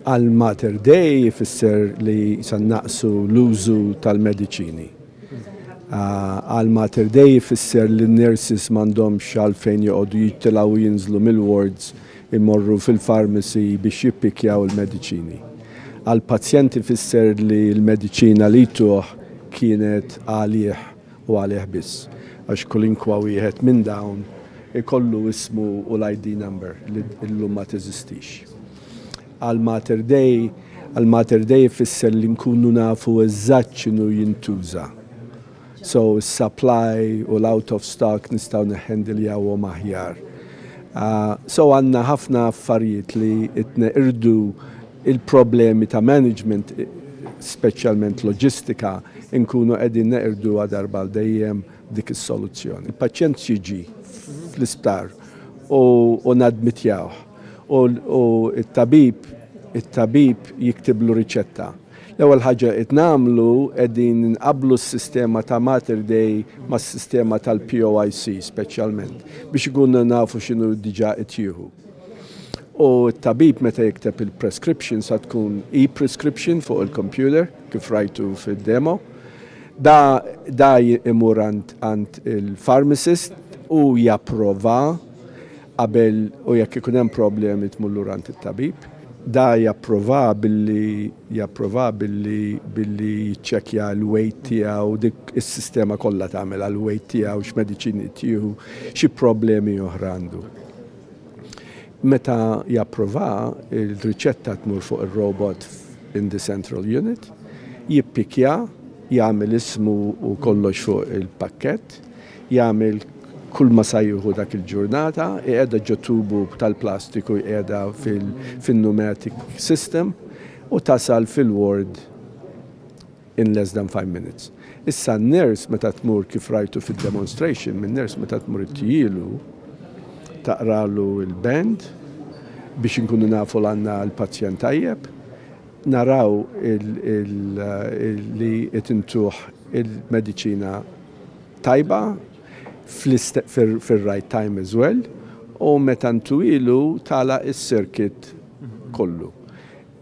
Għal Mater Dei jfisser li se nnaqqsu l-użu tal-mediċini. Għal Mater Dei jfisser li n-nurses m'għandhomx għalfejn joqogħdu jittilgħu u jinżlu mill-wards imorru fil-pharmacy biex jippikkjaw il-mediċini. Għall-pazjent ifisser li l-mediċina li jtuh kienet għalih u għalih biss, għax kulinkwa wieħed minn dawn ikollu ismu u l-ID number li llum ma teżistix. Għal Mater Dei, għal Mater Dei ifisser li nkunu nafu eżatt x'inhu jintuża. So is-supply u l-out of stock nistgħu nihhandiljaw-hom aħjar. So għandna ħafna affarijiet li qed neqirdu Il-problemi ta' management, speċjalment loġistika, inkunu qegħdin neqirduha darba għal dejjem b'dik is-soluzzjoni. Il-paċjent jiġi fl-isptar u nadmitjawh u t-tabib it-tabib jiktiblu riċetta. L-ewwel ħaġa li qed nagħmlu qegħdin inqabblu s-sistema ta' Mater Dei mas-sistema tal-POIC speċjalment biex ikunu nafu x'inhu diġà qed jieħu. u t-tabib meta jikteb il-prescription sa tkun e-prescription fuq il-computer kif rajtu fid-demo. Da, da imur għand il-pharmacist u japprova qabel u jekk ikun hemm problemi tmur lura għand it-tabib. Da japprova billi japprova billi billi jiċċekkja l-weight tiegħu dik is-sistema kollha tagħmel għall-weight tiegħu x'mediċini qed jieħu xi problemi oħra għandu. Meta japprovaha, il-riċetta tmur fuq ir-robot in the central unit, jippikkja, jagħmel ismu u kollox fuq il-pakkett, jagħmel kulma sa jieħu dak il-ġurnata, iqiegħda ġo tubu tal-plastiku jqiegħda fin-pneumatic system u tasal fil-ward in less than five minutes. Issa n-nurse meta tmur kif rajtu fid-demonstration, min-nurse meta tmur ittijjielu taqralu l-band biex inkunu nafu l-għandna l-pazjent tajjeb, naraw li qed intuh il-mediċina tajba fir-right time as well u meta ntuhielu tagħlaq is-circuit kollu.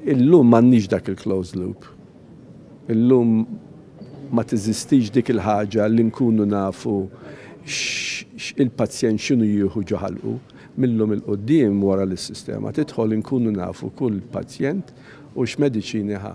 Illum m'għandniex dak il-closed loop. Illum ma teżistix dik il-ħaġa li nkunu nafu x' il-pazjent x'inhu jieħu ġo ħalqu. Mil-lum 'il quddiem wara li s-sistema tidħol inkunu nafu kull pazjent u x'mediċini ħa.